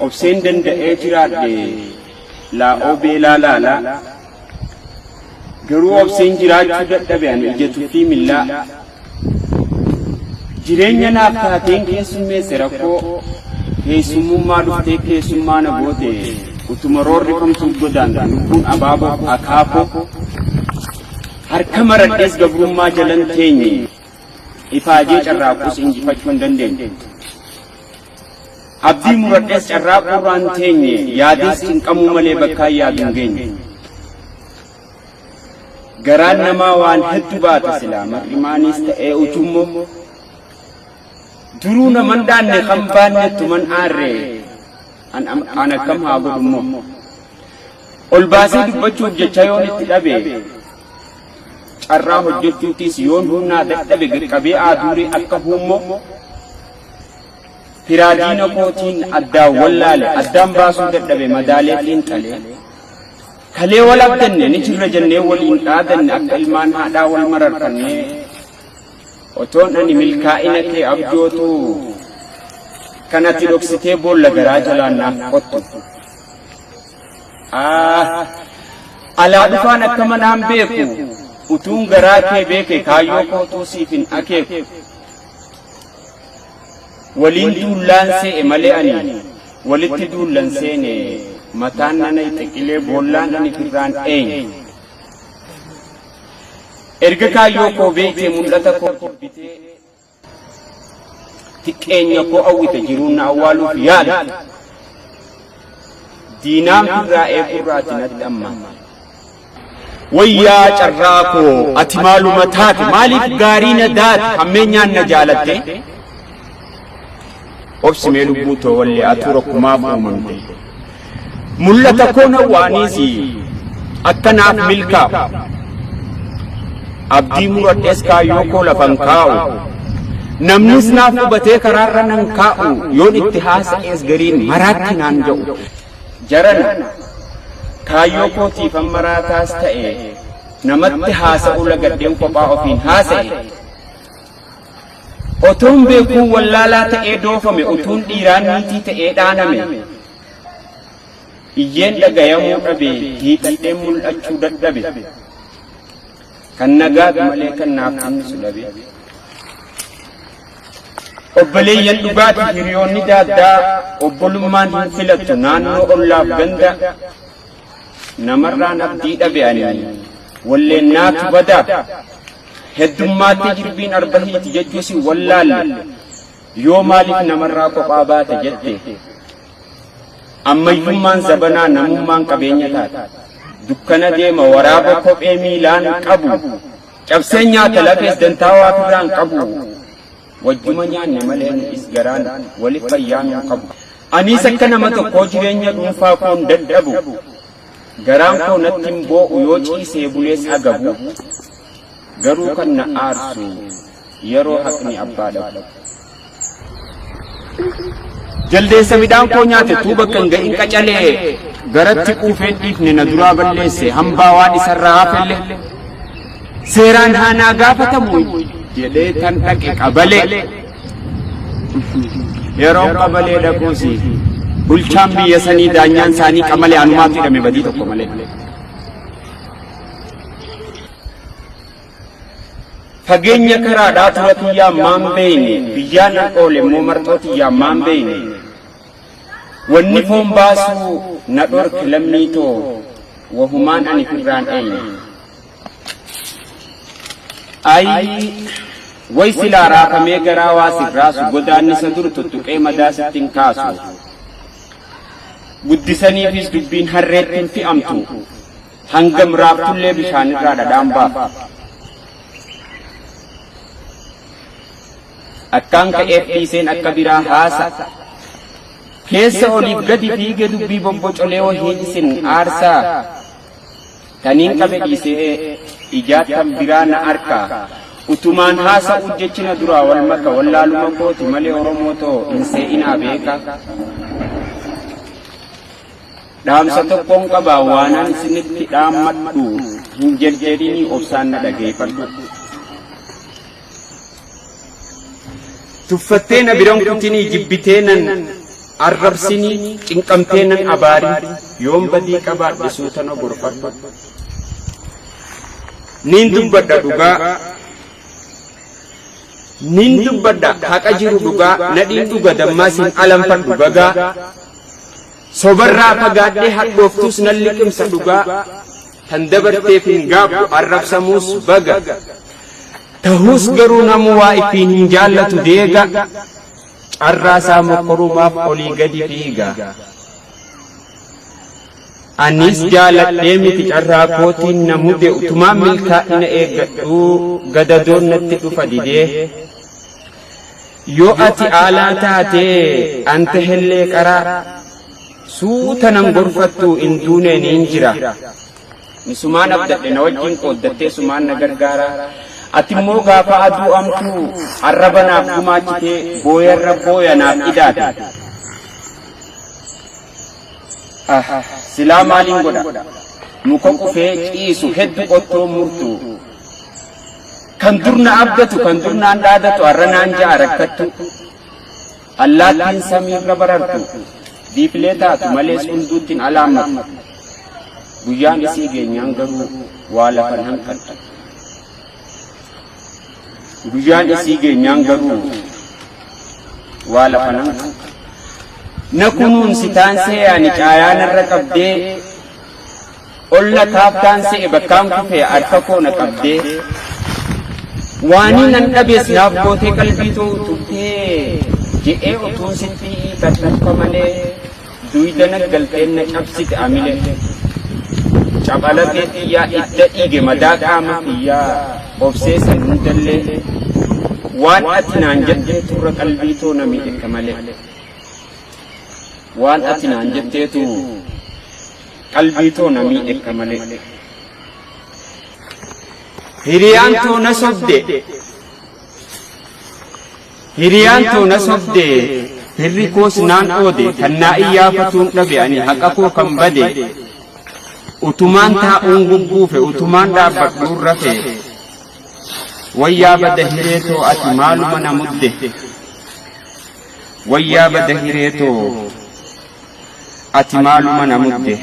obseen danda'ee jiraadhe laa'oo beelaa laalaa garuu obseen jiraachuu dadhabe ani ija tuffii millaa jireenya naaf taateen keessummeesse rakkoo keessummummaa dhuftee keessummaa na goote utuma roorrifamtuu godaan lubbuun abaaboo akaakoo Harka maradhees gabrummaa jalan teenye, ifaajee carraaqus injifachuu hin dandeenye. Abdii muradhees carraaquu irraan teenye, yaadees cinqamuu malee bakkaan yaadu hin geenye. Garaan namaa waan heddu baata silaa mar'imaaniis ta'ee ujummoo. Duruu naman dhaanne kan baanne tuman aarree an akkam haa godhummoo. Ol baasee dubbachuuf jecha yoon itti dhabe, carraa hojjechuutiis yoon humnaa dadhabe qaqqabee aaduuree akka huummoo, firaa diina kootiin addaan wallaale, addaan baasuu dadhabe madaalee xiinxalee, kalee wal abdanne ni jirra jennee waliin dhaadanne akka ilmaan haadhaa wal mararfannee, otoon ani milkaa'ina kee abjootuu kan ati dhoksitee boolla garaa jalaan naaf qottu. Alaa dhufaan akka manaan beeku utuun garaa kee beeke kaayyoo kootuu siif hin akeeku. Waliin duullaan see'e malee ani walitti duullan seene mataan nana xiqilee boollaan ani firraan eenyu. Erga kaayyoo koo beekte mul'ata koo jibbitee Xiqqeenya koo hawwite jiruun na awwaaluuf yaala. Diinaan firraa eegurraa ati natti ammaate. Wayyaa carraa koo ati maaluma taate maaliif gaarii na daate hammeenyaan na jaalatte. Obsi mee lubbuu too wallee atuu rakkumaaf uumamte. Mul'ata koo na waaniisi akka naaf milkaa'u. Abdii muradhees kaayyoo koo lafan kaa'u. Namnis naaf hubatee karaarra nan kaa'u yoon itti haasa'ees gariin maraatti naan ja'u. Jarana kaayyoo kootiifan maraataas ta'e namatti haasa'uu lagadheen kophaa ofiin haasa'e. Otoon beekuu wallaalaa ta'ee doofame utuun dhiiraa niitii ta'ee dhaaname iyyeen dhagayamuu dhabe hiixadheen mul'achuu dadhabe kan nagaatu malee kan naaf kennisu dhabe obboleeyyan dhugaati hiriyoonni daaddaa obbolummaan hin filattu naannoo ollaaf ganda namarraan abdii dhabe ani walleen naatu bada heddummaatti jirbiin arbahiiti jechuu si wallaalle yoo maaliif namarraa kophaa baate jette ammayyummaan zabanaa namummaan qabeenya taate dukkana deema waraaba kophee miilaan qabu cabsee nyaata lafees dantaa waa biraan qabu Wajjuma nyaanne malee nu'is garaan wali fayyaa nuu qabu. Aniis akka nama tokkoo jireenya dhuunfaa koon dadhabu, garaan koo natti hin boo'u yoo ciisee bulees agabu, garuu kan na aarsu yeroo haqni abbaa dhabu. Jaldeessa midhaan koo nyaate tuu bakka hin ga'in qacalee garatti quufeen dhiifne na duraa balleesse hambaa waan isarraa hafelle. Seeraan haanaa gaafatamu jedhee tan dhaqe qabalee. Yeroo qabalee dhaquus bulchaan biyya sanii daanyaan isaanii qamalee anumaaf hidhame badii tokko malee. Fageenya karaadhaa tura tiyyaa maan beeyne biyyaan nan oole immoo marxoo tiyyaa maan beeyne. Wanni foon baasuu na dhorke lammii too wahumaan ani firraan eeyne. Ayii way silaa raafamee garaa waa siif raasu godaannisa dur tuttuqee madaa sitti hin kaasu. Guddisaniifis dubbiin harreetti hin fi'amtu hangam raaftullee bishaanirraa dhadhaan baaftu. Akkaan ka'eef dhiiseen akka biraa haasa. Keessa oliif gadi fiige dubbii bobbocolee wahiin isin aarsaa. Taniin qabe dhiise'ee ijaa tan biraa na arkaa. Utumaan haasa'uu jechi na duraa wal maka wallaaluma kooti malee Oromoo too hin see'inaa beeka. Dhaamsa tokkoon qabaa waanaan isinitti dhaammadhu hin jedjedhinii obsaan na dhageeffadhu. Tuffattee na biran kutinii jibbitee nan arrabsinii cinqamtee nan abaarin yoon badii qabaadhe suutana gorfadhu. Niin dubbadha dhugaa Niin dubbadha haqa jiru dhugaa nadhiin dhuga dammaa siin alanfadhu bagaa sobarraa fagaadhee hadhooftuus nan liqimsa dhugaa Tan dabarteef hin gaabbu arrabsamuus baga. Tahuus garuu namuu waa ittiin hin jaallatu deega. Carraa isaa mokkorumaaf olii gadi fiiga. Anis jaaladhee miti carraa kootiin na mute utumaan milkaa'ina eeggadhuu gadadoon natti dhufa didee. Yoo ati aalaa taatee an tahellee qaraa. Suuta nan gorfattu in duunee niin jira. Misumaan abdadhe na wajjin qooddattee sumaan na gargaara. Ati immoo gaafa aduu amtuu arraba naaf gumaachitee booyarra booya naaf idaate. Ah, silaa maaliin godha? Muka qufee ciisu heddu qottoo murtu. Kan dur na abdatu kan dur naan dhaadatu arra naan ja'a rakkattu. Allaattiin samiirra barartu, diiqlee taatu malees hunduutti hin alaammatu. Guyyaan isii geenyaan garuu waa lafa hin hanqattu. Guyyaan isii geenyaan garuu waa lafa hin hanqattu. Na kunuunsi taansee ani caayaan irra qabdee Olla kaaftaan se'e bakkaan kufee harka koo na qabdee Waanii nan dhabees naaf gootee qalbii too utubdee Je'ee utuun sitti dhadhaffa malee Duyda na galteen na cabsite amilee Capha lafee tiyyaa idda dhiige madaa qaama kiyyaa Obsee san hundallee Waan ati naan jettee turra qalbii too na miidhekka malee Waan ati naan jetteetu qalbii too na miidhekka malee. Hiriyaan too na sobde Hiriyaan too na sobde hirri koos naan oode kan naa iyyaafatuun dhabe ani haqa koo kan bade utumaan taa'uun gugguufe utumaan dhaabbadhuun rafe wayyaa bada hiree too ati maaluma na mudde wayyaa bada hiree too ati maaluma na mudde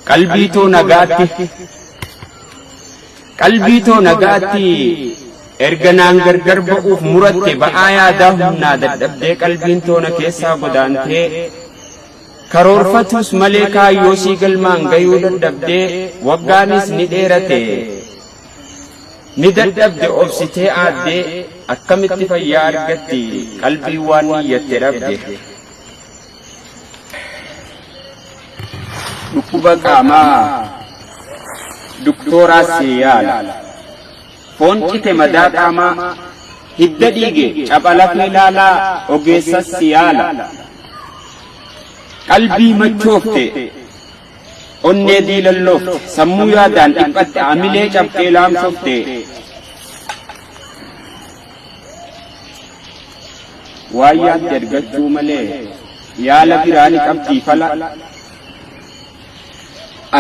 qalbii too nagaatti qalbii too nagaatti erga naan gargar ba'uuf muratte ba'aa yaadaa humnaa dadhabdee qalbiin toona keessaa godaantee karoorfatuus malee kaayyoo sii galmaan gayuu dadhabdee waggaanis ni dheerate Ni dadhabde obsitee aaddee akkamitti fayyaa argatti qalbii waan niyyatte dhabde. Dhukkuba qaamaa duktooraa si yaala. Foon cite madaa qaamaa hidda dhiige capha lafee laalaa ogeessas si yaala. Qalbii machoofte Onnee diilallofte, sammuu yaadaan dhiphatte, amilee cabxee laamshofte. Waan yaadde argachuu malee yaala biraa ni qabdii fala.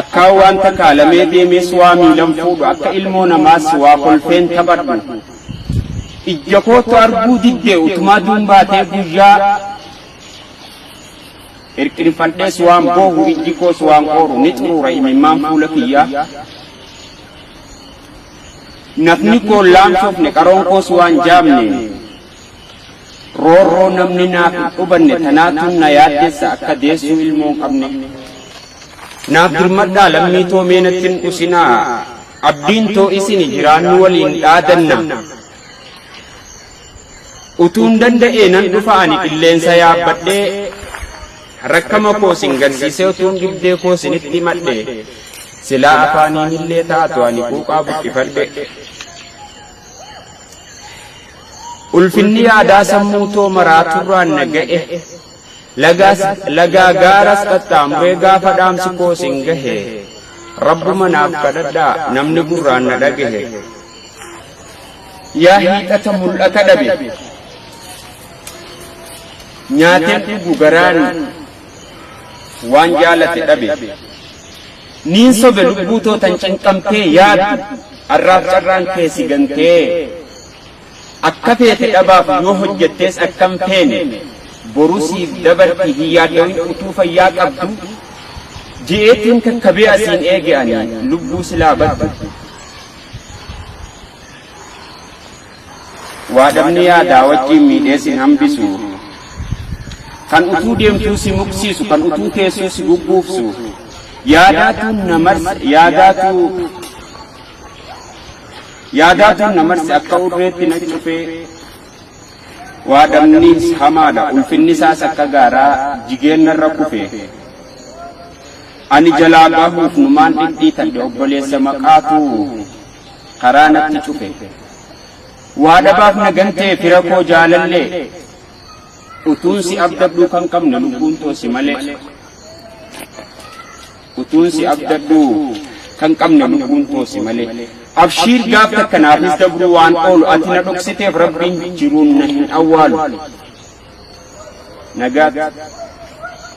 Akkaa wanta kaalamee deemees waa miilan fuudhu akka ilmoo namaas waa kolfeen taphadhu. Ijja kootu arguu diddee utumaa duun baatee guyyaa Hirqinfadhees waan boohu ijji koos waan qooru ni xuruura imimmaan fuula kiyyaa. Nafni koo laamsofne qaroon koos waan jaamne. Roorroo namni naaf hin dhubanne tanaatu na yaaddessa akka deessuu ilmoo hin qabne. Naaf dirmadhaa lammii too mee natti hin dhusinaa. Abdiin too isini jiraannu waliin dhaadanna. Utuun danda'ee nan dhufa ani qilleensa yaabbadhee rakkama koo sin garsiisee utuun dhibdee koo sinitti himadhe silaa afaaniin illee taatu ani quuqaa buqqifadhe. Ulfinni yaadaa sammuu too maraa turraan na ga'e lagaas lagaa gaaras qaxxaamuree gaafa dhaamsi koo sin gahe rabbuma naaf kadhadhaa namni gurraan na dhagahe. Yaa hiixata mul'ata dhabe. Nyaateen dhugu garaan waan jaalate dhabe. Niin sobe lubbuu too tan cinqamtee yaaddu arraaf carraan kee si gantee. Akka feete dhabaaf yoo hojjettees akkam feene boru siif dabarti hin yaaddawin utuu fayyaa qabdu. Ji'eetiin kakkabee asiin eege ani lubbuu silaa baddu. Waa dhabni yaadaa wajjiin miidhee sin hambisu Kan utuu deemtuu si muqsiisu kan utuu teessuu si gugguufsu Yaadaatuun na marse yaadaatuu Yaadaatuun na marse akka urreetti na cufee Waa dhabnis hamaadha ulfinni isaas akka gaaraa jigeen narra kufee Ani jalaa bahuuf numaan dhidhiitadhe obboleessa maqaatu karaa natti cufe. Waa dhabaaf na gantee fira koo jaalallee utuun si abdadhuu kan qabne lubbuun too si malee. Utuun si abdadhuu kan qabne lubbuun too si malee. Abshiir gaaf takka naafis dabruu waan oolu ati na dhoksiteef rabbiin jiruun na hin awwaalu. Nagaatti.